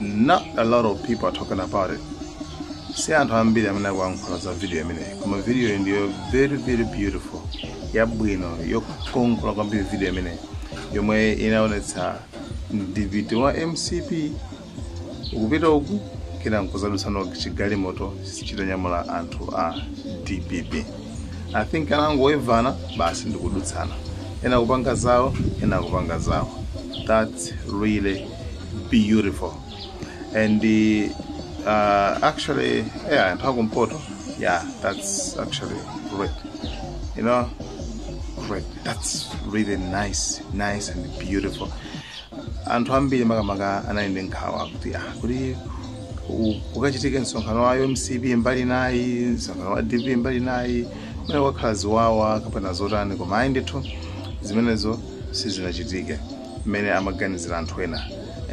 not a lot of people are talking about it si anthu ambiri amene akuyankhula za video imeneyi koma videoyi ndiyo very very beautiful yabwino yokongola kwambiri video imeneyi yomwe inaonetsa mdiviti wa mcp ukupita uku kenako nkuzadutsana chigalimoto chitanyamula anthu a dpp i think anangoyevana basi ndikudutsana ena kupanga zawo ena kupanga zawo that's really beautiful and the uh, actually yeah anthu akumpoto yeah that's actually great you know great that's really nice nice and beautiful anthu ambiri makamaka anali ndi nkhawa kuti ah kuti u- ukachitike msonkhano wa mcp mbali nayi msonkhano wa dp mbali nayi mwina kukhala ziwawa kapena zotani koma ayi ndithu zimenezo sizinachitike mmene amaganizira anthu ena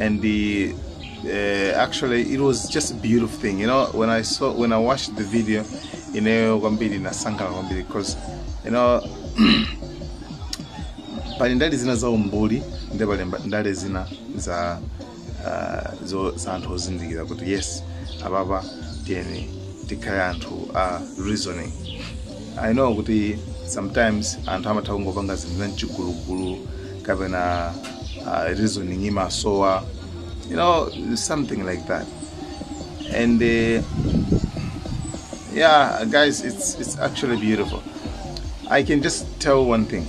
and the, uh, actually it was just a beautiful thing you know when i saw when i watched the video ineyo kwambiri ndinasangalala kwambiri because you know pali ndale zina za umbuli ndi pali mba- ndale zina za ah, zo za anthu ozindikira kuti yes apapa tiyeni tikhale anthu a reasoning i know kuti sometimes anthu amatha kungopanga zinthu zamchigulugulu kapena ah, reasoning imasowa you know something like that and uh, yeah guys it's it's actually beautiful i can just tell one thing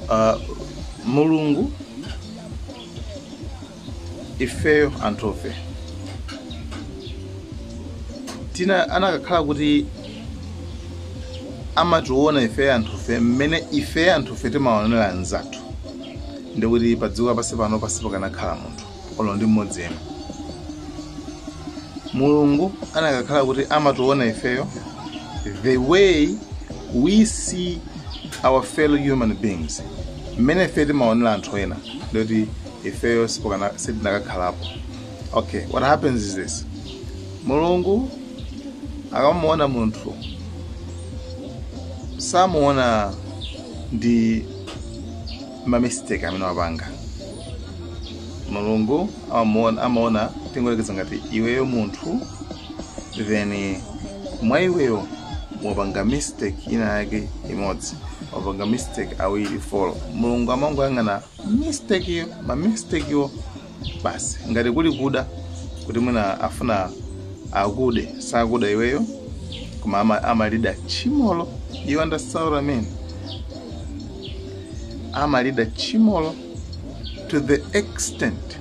Uh, mulungu ifeyo anthufe tina anakakhala kuti amationa ifeyo anthufe mmene ifeyo anthufe timaonera anzathu ndikuti padziko lapansi pano sipakanakhala munthu olo ndi mmodzi yemwe mulungu anakakhala kuti amationa ifeyo the way we see our fellow human beings mmene ifeyo timaonera anthu ena ndikuti ifeyo sipokana- sitinakakhalapo okay what happens is this mulungu akamuona munthu samuona ndi ma mistake amene wapanga mulungu amaona amaona tingoyerekeza ngati iweyo munthu then mwa iweyo wapanga mistake ina yake imodzi wapanga mistake awiri folo mulungu amangoyang'ana mistakeyo ma mistakewo basi ngati kuli kuda kuti mwina afuna akude sakuda iweyo koma ama- amalida tchimolo you understand what I mean amalida tchimolo to the extent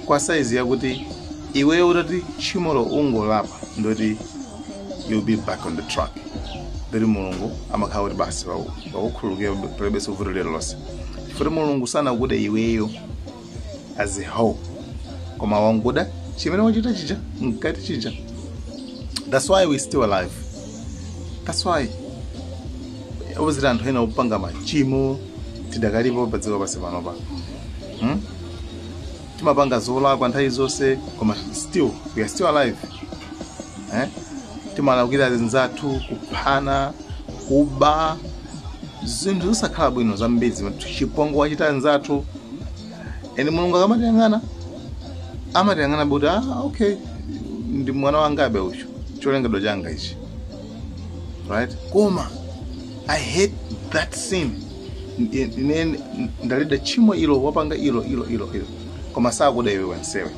kwa saizi yakuti iweyo utati tchimolo ungolapa ndoti you'll be back on the track ndoti mulungu amakhala kuti basi wakukhululukira palibenso vuto lililonse chifukwa mulungu sanakude iweyo as a whole koma wanguda chimene wachita chija mkati chija that's why we still alive that's why obviously anthu ena opanga machimo tidakalipo pa dziko lapansi panopa hmm? timapanga zolakwa nthawi zonse koma still we are still alive eh? timalakwira zinzathu kuphana kuba zinthu zosakhala bwino zambiri zimene chipongwe wachita nzathu ende mulungu akamatiyang'ana amatiyang'ana kuti ah, okay ndi mwana wangabe uyo cholengedwa changa ichi right koma i hate that sin Ndi- ine ndalida tchimo ilo wapanga ilo ilo ilo ilo koma sakuda iwe wensewe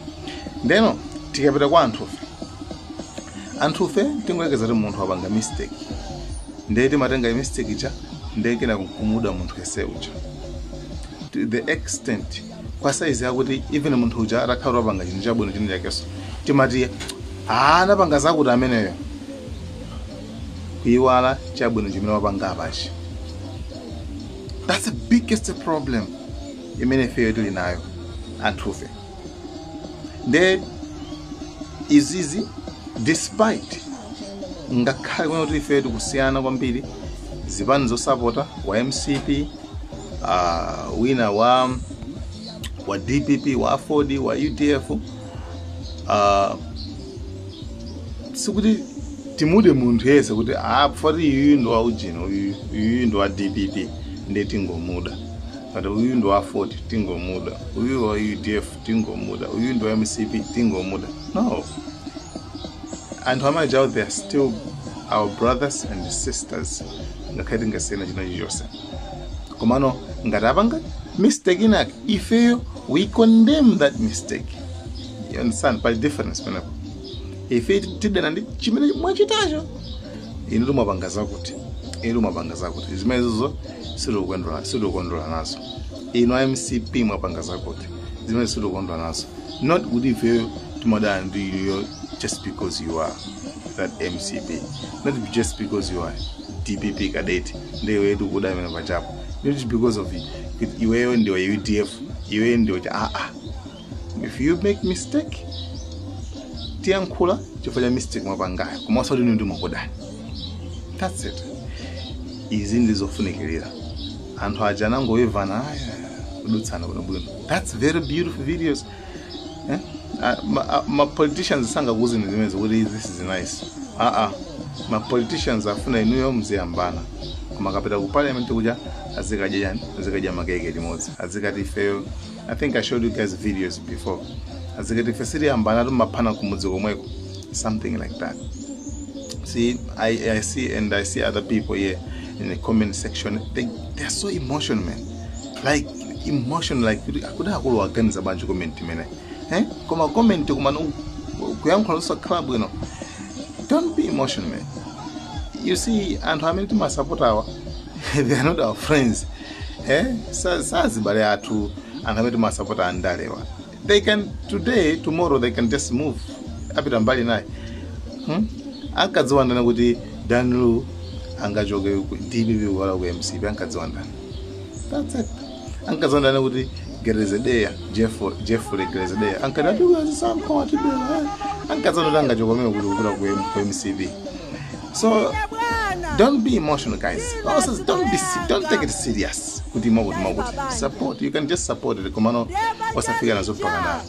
ndeno tikapita kwa anthufe anthufe tingoyekeza kuti munthu wapanga mistake ndiye timatenga mistake ija ndiye kenako kumuda munthu yense uja to the extent kwa size yakuti even munthu uja atakhale wapanga chinthu chabwino chinthu chakeso timati "Ah, anapanga zakuti ameneyo kuyiwala chabwino chimene wapanga apachi that's the biggest problem imene ifeyo tili nayo anthufe nde izizi despite ngakhale kuti ifeyo tikusiyana kwambiri zipani zosapota wa mcp uh, wina wa wa dpp wa aford wa udf uh, sikuti timude munthu yese kuti ah, poti iyuyu ndi wa ujini uyu- iyuyu ndi wa dpp nde tingomuda kuti uyu ndi wa aford tingomuda uyu wa udf tingomuda uyu ndi wa mcp tingomuda no anthu amajawo they are still our brothers and sisters ngakhale tingasiyana china chilichonse komano ngati apanga mistake inake ifeyo we condemn that mistake you understand pali difference penepo ife tidana ndi chimene mwachitacho inu mwapanga zakuti inu mwapanga zakuti zimenezozo sitikukondwera nazo inu a mcp mwapanga zakuti zimene sitikondwa nazo not kuti ifeyo timadana ndi inuyo just because you are that mcp not just because you are dpp cadet ndiye tikuda imene wachitapo not because of iweyo ndiwe wa udf iweyo ndiwe cha aa if you make mistake tiyankhula chifukwa cha mistake mwapangayo koma osati kuti ndimakudani that's it izi ndi zofunikira anthu aja anangowevana aya kudutsana bwinobwino that's very beautiful videos eh? Ah, ma, ah, ma politicians sangakuuzeni zimenezo kuti this is nice aa ma politicians afuna inuyo mziyambana koma akapita ku parliament kuja azikadya chani azikadya makeke limodzi azikati ifeyo i think i showed you guys videos before azikati ife sitiyambana atimaphana kumudzi komweko something like that see I, I see and i see other people here in the comment section they, they are so emotional man like emotion like kuti akuluwa aganiza bwanji comment imene eh? koma comment kumangoyankhula usakhala bwino don't be emotional man you see anthu amene timasapota awa they are not our friends eh sa- sazibale athu anthu amene timasapota andalewa they can today tomorrow they can just move apita mbali inayo hmm? ankadziwa ndani kuti Dan Lu angachoke ku dpp kukalowa ku mcp ankadziwa ndani that's it ankadziwa ndani kuti grezelder Jeff- jeffrey grezelder ankati atiwezi samkawatibela ankadziwa ndani angachoka mene kuti kukalowa ku M- ku mcp so don't be emotional guys also don't be se- don't take it serious kuti mwakuti mwakuti support you can just support it komano osafika nazo mpaka na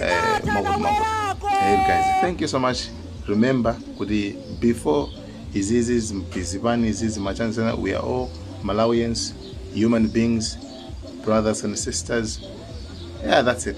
eh, mwakuti mwakuti hey guys thank you so much remember kuti before izizi zipani izizi machanzana we are all malawians human beings brothers and sisters yeah that's it